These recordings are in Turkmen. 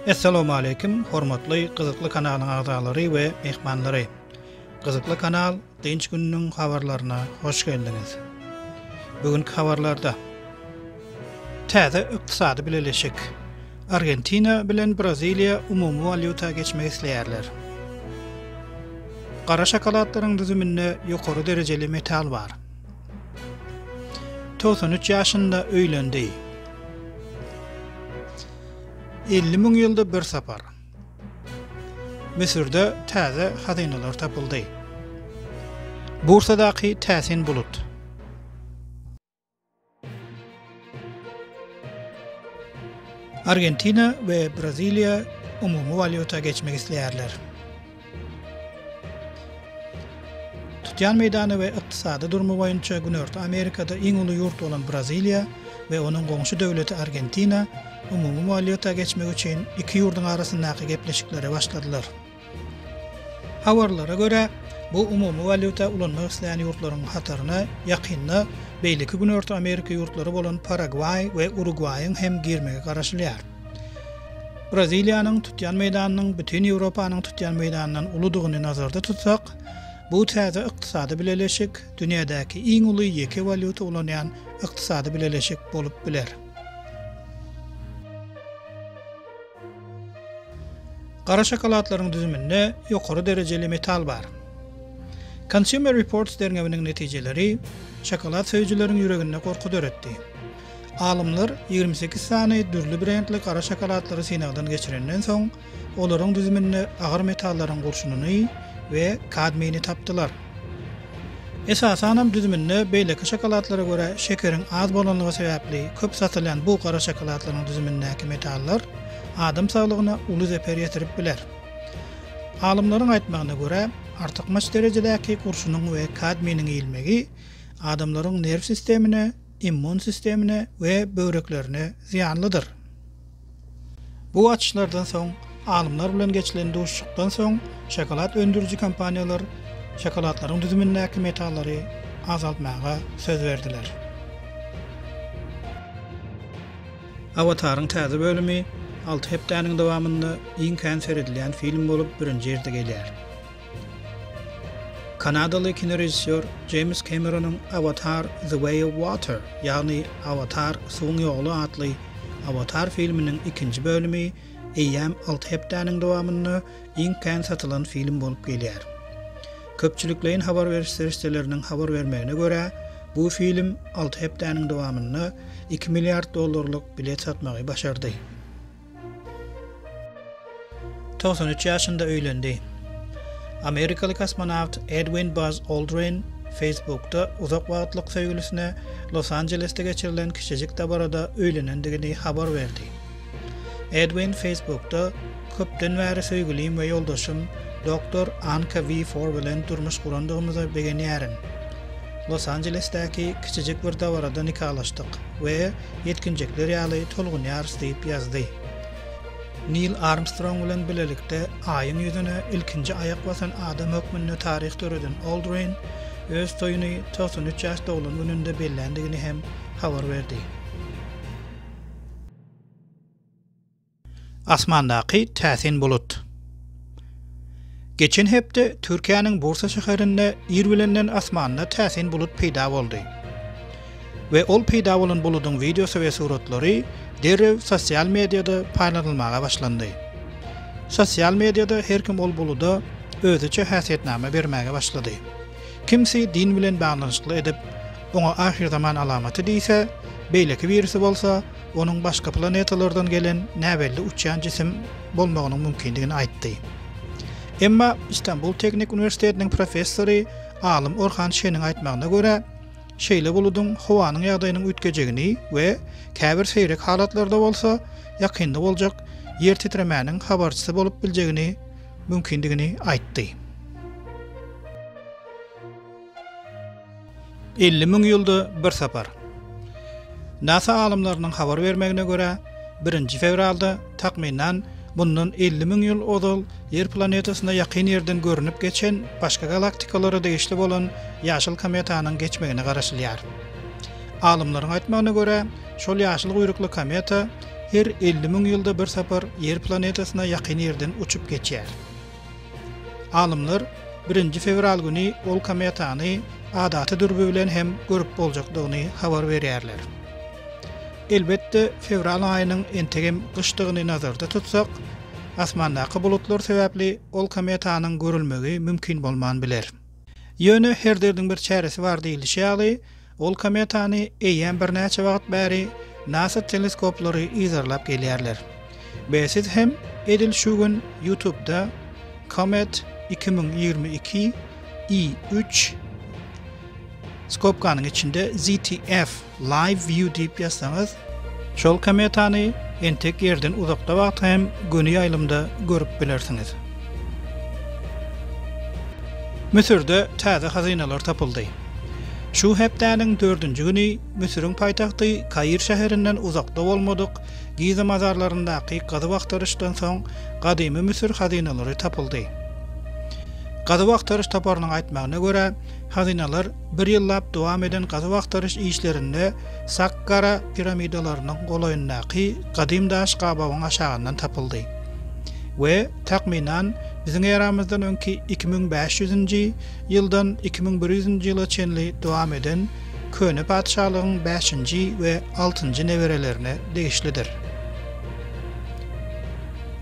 Essalawmaleýkim hormatly gyzykly kanalyň agzalary we myhmanlary. Gyzykly kanal Dynç gününiň habarlaryna hoş geldiňiz. Bugünkü habarlarda täze ykdysady bileleşik Argentina bilen Braziliýa umumy walýuta geçmek isleýärler. Gara şokoladlaryň düzüminde ýokary derejeli metal bar. Togsan üç ýaşynda öýlendi. Elli müň ýylda bir sapar. Müsürde täze hazynalar tapyldy. Bursadaky täsin bulut. Argentina we Braziliýa umumy walýuta geçmek isleýärler. Tutýan meýdany we ykdysady durmy boýunça Günorta Amerikada iň uly ýurt bolan Braziliýa we onuň goňşy döwleti Argentina umumy walýuta geçmek üçin iki ýurduň arasyndaky gepleşiklere başladylar. Habarlara görä, bu umumy walýuta ulanmak isleýän ýurtlaryň hataryna ýakynda beýleki Günorta Amerika ýurtlary bolan Paragwaý we Urugwaýyň hem girmegi garaşylýar. Braziliýanyň tutýan meýdanynyň bütin Ýewropanyň tutýan meýdanyndan uludygyny nazarda tutsak, bu täze ykdysady bileleşik dünýädäki iň uly ýeke walýuta ulanýan ykdysady bileleşik bolup biler. Gara şokoladlaryň düzüminde ýokary derejeli metal bar. Consumer Reports derňewiniň netijeleri şokolad söýüjileriň ýüreginde gorky döretdi. Alymlar ýigrimi sekiz sany dürli brendli gara şokoladlary synagdan geçirenden soň, olaryň düzüminde agyr metallaryň gurşunyny we kadmiýni tapdylar. Esasanam düzüminde beýleki şokoladlara görä şekeriň az bolanlygy sebäpli köp satylýan bu gara şokoladlaryň düzümindäki metallar adam saglygyna uly zeper ýetirip biler. Alymlaryň aýtmagyna görä, artykmaç derejedäki gurşunyň we kadminiň iýilmegi adamlaryň nerw sistemine, immun sistemine we böwreklerine zyýanlydyr. Bu açyşlardan soň, alymlar bilen geçilen duşuşykdan soň, şokolad öndüriji kompaniýalar şokoladlaryň düzümindäki metallary azaltmaga söz berdiler. Awataryň täze bölümi alty hepdäniň dowamynda iň kän seredilýän film bolup birinji ýerde gelýär. Kanadaly kinorežissýor Jeýms Kemeronyň Awatar, The Way of Water, ýagny Awatar, suwuň ýoly atly Awatar filminiň ikinji bölümi eýýäm alty hepdäniň dowamynda iň kän satylan film bolup gelýär. Köpçülikleýin habar beriş serişdeleriniň habar bermegine görä, bu film alty hepdäniň dowamynda iki milliard dollarlyk bilet satmagy başardy. Togsan üç ýaşynda öýlendi. Amerikaly kosmonawt Edwin Buzz Aldrin Facebookda uzak wagtlyk söýgülisine Los-Anjelesde geçirilen kiçijik dabarada öýlenendigini habar berdi. Edwin Facebookda Köpden bäri söýgülim we ýoldaşym Doktor Anka Wi Fore bilen durmuş gurandygymyza begenýärin. Los-Anjelesdäki kiçijik bir dabarada nikalaşdyk we ýetginjekler ýaly tolgunýarys diýip ýazdy. Nil Armstrong bilen bilelikde Aýyň ýüzüne ilkinji aýak basan adam hökmünde taryh döreden Oldrin öz toýuny togsan üç ýaş doglan gününde belländigini hem habar berdi. Asmandaky täsin bulut. Geçen hepde Türkiýäniň Bursa şäherinde ir bilenden asmanda täsin bulut peýda boldy. We ol peýda bolan buludyň wideosy we suratlary derrew sosial mediada paýlanylmaga başlandy. Sosial mediada her kim ol buluda özüçe häsiýetnama bermäge başlady. Kimsi din bilen baglanyşykly edip, oňa ahyrzaman alamaty diýse, beýleki birisi bolsa, onuň başga planetalardan gelen näbelli uçýan jisim bolmagynyň mümkindigini aýtdy. Emma Istanbul Teknik uniwersitetiniň professory, alym Orhan Şeniň aýtmagyna görä, şeýle buludyň howanyň ýagdaýynyň üýtgejegini we käbir seýrek halatlarda bolsa, ýakynda boljak ýer titremäniň habarçysy bolup biljegini mümkindigini aýtdy. Elli müň ýylda bir sapar. Nasa alymlarynyň habar bermegine görä, birinji fewralda, takmynan, mundan elli müň ýyl ozal Ýer planetasyna ýakyn ýerden görnüp geçen başga galaktikalara degişli bolan ýaşyl kometanyň geçmegine garaşylýar. Alymlaryň aýtmagyna görä, şol ýaşyl guýrukly kometa her elli müň ýylda bir sapar Ýer planetasyna ýakyn ýerden uçup geçýär. Alymlar birinji fewral güni ol kometany adaty dürbü bilen hem görüp boljakdygyny habar berýärler. Elbetde, fewral aýynyň entegem gyşdygyny nazarda tutsak, asmandaky bulutlar sebäpli ol kometanyň görülmegi mümkin bolman biler. Ýöne her derdiň bir çäresi bar diýlişi ýaly, ol kometany eýýäm birnäçe wagt bäri nasa teleskoplary yzarlap gelýärler. Be siz hem edil şu gün ýutubda Comet iki müň ýigrimi iki I üç skopkanyň içinde ZTF Live view diýip ýazsaňyz. Şol kometany entek ýerden uzakda wagtky hem göni ýaýlymda görüp bilersiňiz. Müsürde täze hazynalar tapyldy. Şu hepdäniň dördünji güni Müsüriň paýtagty Kair şäherinden uzakda bolmadyk Giza mazarlaryndaky gazuw-agtaryşdan soň gadymy Müsür hazynalary tapyldy. Gazuw-agtaryş toparynyň aýtmagyna görä, hazynalar Bir ýyllap dowam eden gazuw-agtaryş işlerinde Sakkara piramidalarynyň golaýyndaky gadym daş gabawyň aşagyndan tapyldy we, takmynan, biziň eramyzdan öňki iki müň bäş ýüzünji ýyldan iki müň bir ýüzünji ýyla çenli dowam eden köne patyşalygyň bäşinji we altynjy neberelerine degişlidir.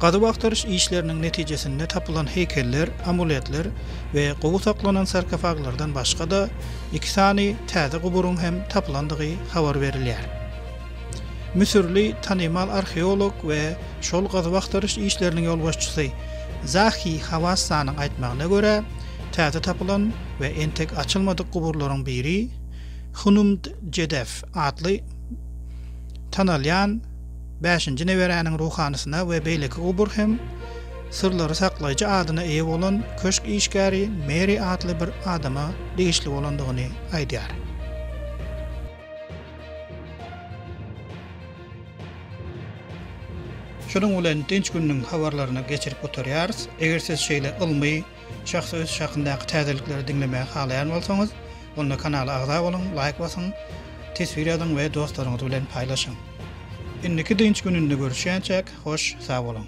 Gazuw-agtaryş işleriniň netijesinde tapylan heýkeller, amuletler, we gowy saklanan sarkofaglardan başga-da, iki sany täze guburyň hem tapylandygy habar berilýär. Müsürli tanymal arheolog we şol gazuw-agtaryş işleriniň ýolbaşçysy Zahi Hawassanyň aýtmagyna görä, täze tapylan we entek açylmadyk guburlaryň biri Hunumd-Jedef atly tanalýan bäşinji neberäniň ruhanysyna we beýleki gubur hem Syrlary saklaýjy adyna eýe bolan köşk işgäri Meri atly bir adama degişli bolandygyny aýdýar. Şunuň bilen dynç gününiň habarlaryny geçirip gutarýarys. Eger siz şeýle ylmy, Şahsy ösüş hakyndaky täzelikleri diňlemäge halaýan bolsaňyz, onda kanala agza boluň, laýk basyň, teswir ýazyň we dostlaryňyz bilen paýlaşyň. Indiki dynç gününde görüşýänçäk, hoş, sag boluň!